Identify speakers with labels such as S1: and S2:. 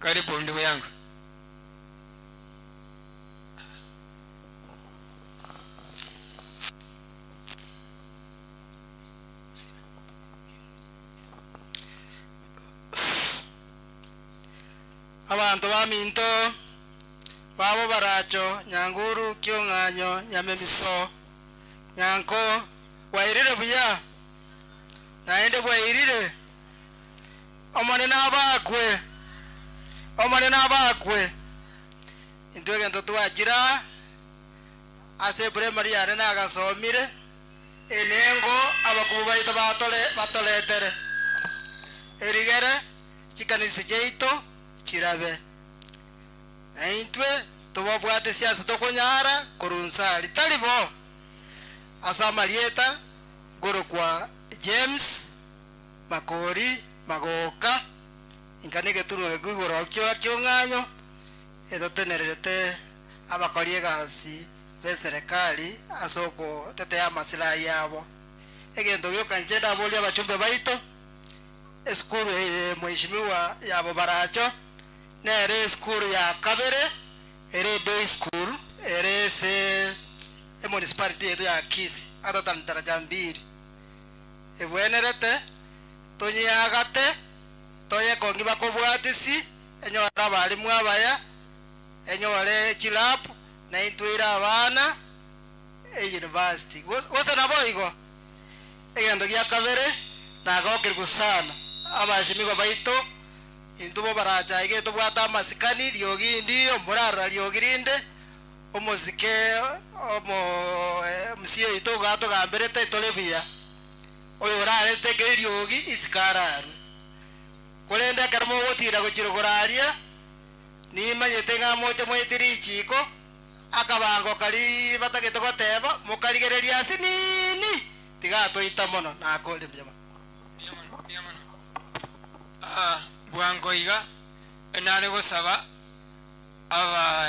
S1: Kare bondi bweango,
S2: abanto baminto babo baracho nyanguru kiong'anyo nyamemiso, nyanko bwairire buya, naende bwairire. Omonene abakwe! Omonene abakwe! Intwe egento twachire aa ase eprimary yane nagasomire enengo abakubwa baito batore batoretere erigere chikanisa chiaito chirabe. Na intwe tobabwate siase tokonyara korunsa ari tari bo ase amarieta ngorokwa James. Makori magooka, inka negetunwa gekwe igoro ki'ong'anyo etotenererete abakori egasi b'eserekari ase ogotetea amasilahi yabo. Egento gioka inche ndaboria abachumbe baito, esukuru eye Mheshimiwa yabo Baracho nere esukuru ya kabere ere day school ere ase emunicipality yaito ya Kisii other than Daraja Mbili. egwenerete, tonyeagate, toyekong'ima kobwatisi, enyore abarimu abaya, enyore chilab, na intwe ire abana e university, gose naboigo. Egento gia kabere, nagokerigwe sana abasemigo baito, intwe bo baracha iga etobwate amasikani, riogi ndiyo, morarora riogi rinde, Omosike omosie oito ogatogamberete tore buya, oyorarete kera eriogi isiko ararue. Korende ekero mogotinda gochia koraria, nimanyete ng'a moche mwaite richiiko, akabangoka riria batagete goteba, mokarigereria ase nini? Tiga atoita mono nakore buya mono. Buya mono, buya mono.
S1: Bwango iga, nare gosaba aba.